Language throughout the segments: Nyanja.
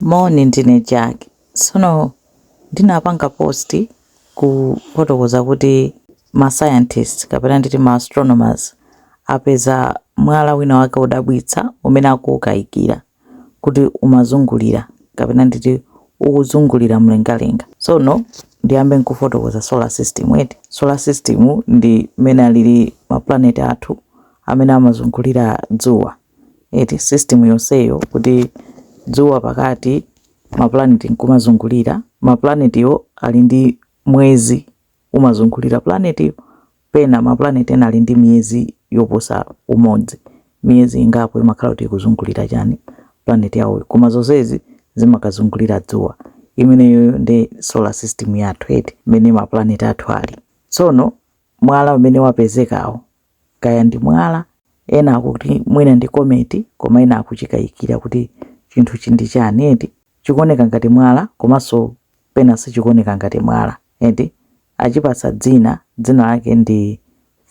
Moni ndine Jack tsono ndinapanga post kufotokoza kuti ma scientist kapena nditi ma astronomers apeza mwala wina wake odabwitsa umene akuukayikira kuti umazungulira kapena nditi ukuzungulira mlengalenga tsono ndiyambe nkufotokoza solar system eti solar system ndi mmene alili ma planet athu amene amazungulira dzuwa eti system yonseyo kuti dzuwa pakati mapulaneti nkumazungulira mapulanetiwo ali ndi mwezi umazungulira pulanetiyo pena mapulaneti ena ali ndi miyezi yoposa umodzi miyezi ingapo imakhala kuti ikuzungulira chani pulaneti yawoyo koma zonsezi zimakazungulira dzuwa imeneyoyo ndi solar system yathu eti mmene mapulaneti athu ali tsono mwala umene wapezekawo kaya ndi mwala, ena akuti mwina ndi kometi koma ena akuchikayikira kuti chinthuchi ndi chani eti, chikuoneka ngati mwala komanso pena sichikuoneka ngati mwala eti, achipatsa dzina, dzina lake ndi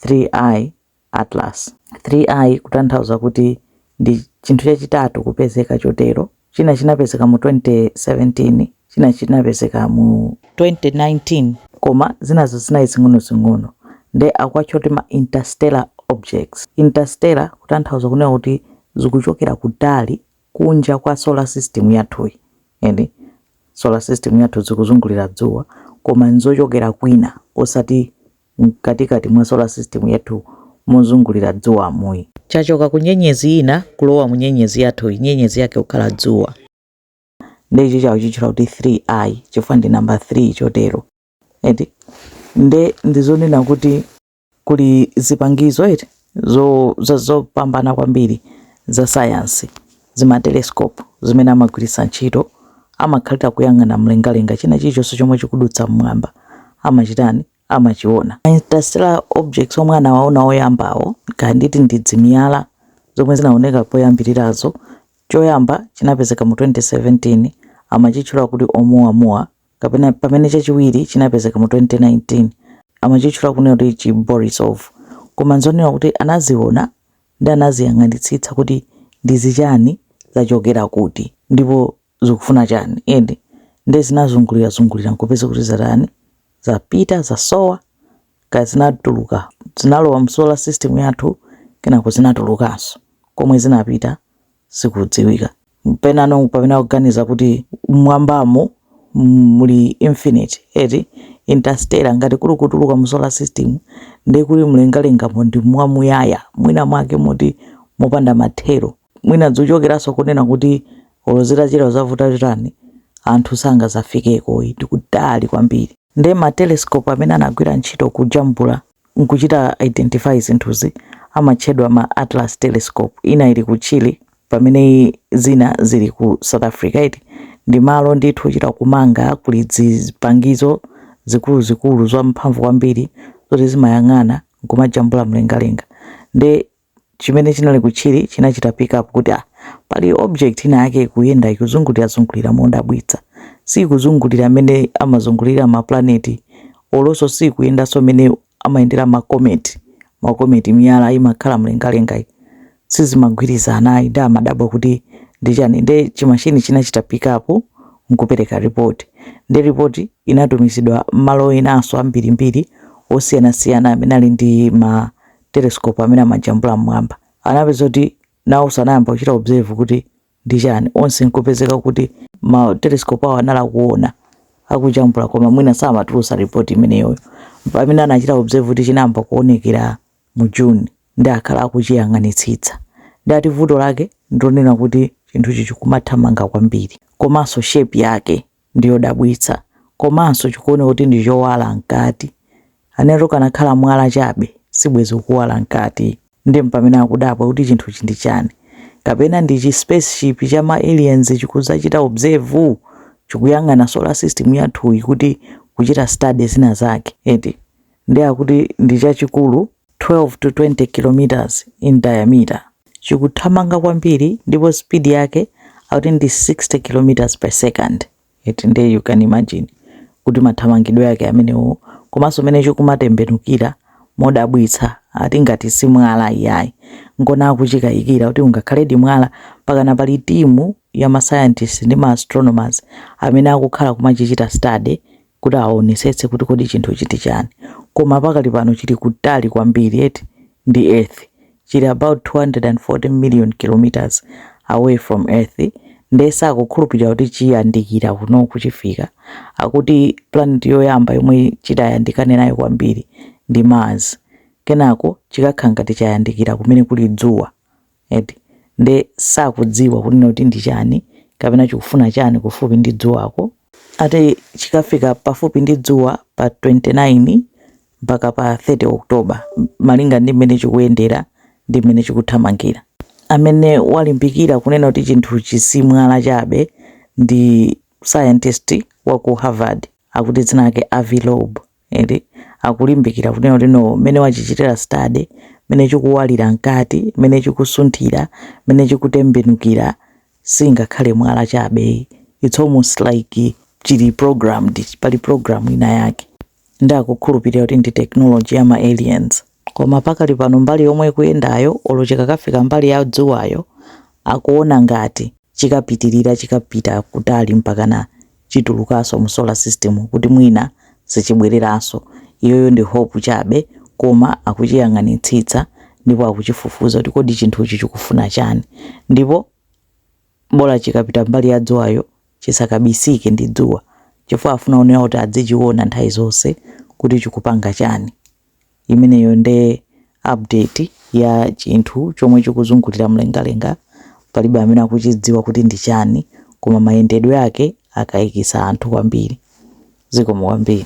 3I Atlas, 3I kutanthauza kuti Ndi chinthu chachitatu kupezeka chotero, china chinapezeka mu 2017, china chinapezeka mu 2019, koma zinazo zinali zing'onozing'ono nde akuwatcha kuti ma interstellar objects. Interstellar kutanthauza kunena kuti zikuchokera kutali kunja kwa solar system yathuyi, eti solar system yathu zikuzungulira dzuwa koma n'zochokera kwina osati mkatikati mwa solar system yathu mozungulira dzuwamu ayi. Chachoka ku nyenyezi ina kulowa mu nyenyezi yathuyi, nyenyezi yake kukhala dzuwa. Nde ichi akuchitchula kuti 3I chifukwa ndi namba 3 chotero eti. Nde ndizonena kuti kuli zipangizo eti. zopambana kwambiri za sayansi, zimatelesikopu zimene amagwiritsa ntchito, amakhalira kuyang'ana mlengalenga, china chilichonse chomwe chikudutsa m'mwamba amachitani, amachiona. Interstellar objects omwe anawaona oyambawo, kaya nditi ndi zimiyala zomwe zinaoneka poyambirirazo, choyamba chinapezeka mu 2017 amachitchula kuti Oumuamua kapena pamene chachiwiri chinapezeka mu 2019 amachitchula kunena kuti chi Borisov, koma nzonena kuti anaziona ndi anaziyang'anitsitsa kuti ndi zichani zachokera kuti ndipo zikufuna chani eti nde zinazungulira zungulira nkupeza kuti zatani zapita zasowa kaya zinatuluka zinalowa mu solar system yathu kenako zinatulukanso komwe zinapita sikudziwika penano pamene akuganiza kuti mmwambamu muli infinite eti interstellar ngati kuli kutuluka mu solar system ndiye kuti mlengalengamo ndi mwamuyaya mwina mwake moti mopanda mathero mwina zikuchokeranso kunena kuti olo zitachera zitavuta chotani anthu sangazafikeko ndi kutali kwambiri ndiye ma telescope amene anagwira ntchito kujambula n'kuchita identify zinthuzi amatchedwa ma Atlas telescope, ina ili ku Chile pamene zina zili ku South Africa eti ndi malo ndithu ochita kumanga kuli zipangizo zikuluzikulu zamphamvu kwambiri zoti zimayang'ana n'kumajambula mlengalenga nde chimene chinali ku Chile chinachita pickup kuti, Ah, pali object inayake ikuyenda, ikuzungulira zungulira modabwitsa. Siikuzungulira mmene amazungulirira mapulaneti, olonso siikuyendanso mmene amayendera macomet, macomet, miyala imakhala mlengalengayi. Sizimagwirizana ayi, ndiye amadabwa kuti ndi chani. Ndiye chi machine chinachita pickup nkupereka report. Ndiye report inatumizidwa mmalo enanso ambirimbiri osiyanasiyana amene ali ndi ma telescope amene amajambula mmwamba anapeza kuti nawonso anayamba kuchita observe kuti ndi chani onse nkupezeka kuti ma telescope awo anali akuona akujambula koma mwina samatulutsa report imeneyoyo pamene anachita observe kuti chinayamba kuonekera mu June nde akhala akuchiyang'anitsitsa nde ati vuto lake ndonena kuti chinthuchi chikumathamanga kwambiri komanso shape yake ndi yodabwitsa, komanso chikuoneka kuti ndi chowala mkati. And ukanakhala mwala chabe, sibwenzi ukuwala mkati. Ndiye mpamene akudabwa kuti chinthuchi ndi chani. Kapena ndi chi spaceship cha ma aliens chikudzachita observe, chikuyang'ana solar system yathuyi kuti kuchita study zina zake, eti. Ndiye akuti ndi chachikulu 12 to 20 km in diameter. Chikuthamanga kwambiri ndipo speed yake akuti ndi 60 km per second. Eti ndiye you can imagine kuti mathamangidwe ake amenewo komanso mene chikumatembenukira modabwitsa ati ngati si mwala iyayi. Nchona akuchikayikira kuti ungakhaledi mwala mpakana pali timu ya ma scientists ndi ma astronomers amene akukhala kumachichita study kuti aonesetse kuti kodi chinthuchi ndi chani koma pakali pano chili kutali kwambiri eti ndi earth chili about 240 million kilometers away from earth nde sakukhulupirira kuti chiyandikira kuno chifukwa akuti planet yoyamba yomwe chitayandikane nayo kwambiri ndi mars kenako chikakhala ngati chayandikira kumene kuli dzuwa eti nde sakudziwa kunena kuti ndi chani kapena chikufuna chani kufupi ndi dzuwako ati chikafika pafupi ndi dzuwa pa 29 mpaka pa 30 October malinga ndi mmene chikuyendera ndi mmene chikuthamangira amene walimbikira kunena kuti chinthuchi si mwala chabe ndi scientist wa ku Harvard akuti dzina lake Avi Loeb eti akulimbikira kunena kuti no mmene wachichitira study mmene chikuwalira mkati mmene chikusunthira mmene chikutembenukira singakhale mwala chabe it's almost like chili programmed pali program ina yake nde akukhulupirira kuti ndi technology ya ma aliens koma pakali pano mbali yomwe ikuyendayo olo chikakafika mbali ya dzuwayo akuona ngati chikapitirira chikapita kutali mpakana chitulukaso mu solar system kuti mwina sichibweleraso iyoyo ndi hope chabe koma akuchiyang'anitsitsa ndipo akuchifufuza kuti kodi chinthuchi chikufuna chani ndipo bola chikapita mbali ya dzuwayo chisakabisike ndi dzuwa chifukwa afuna kunena kuti adzichiona nthawi zonse kuti chikupanga chani. Imeneyo nde update ya chinthu chomwe chikuzungulira mlengalenga, palibe amene akuchidziwa kuti ndi chani koma mayendedwe ake akayikitsa anthu kwambiri. Zikomo kwambiri.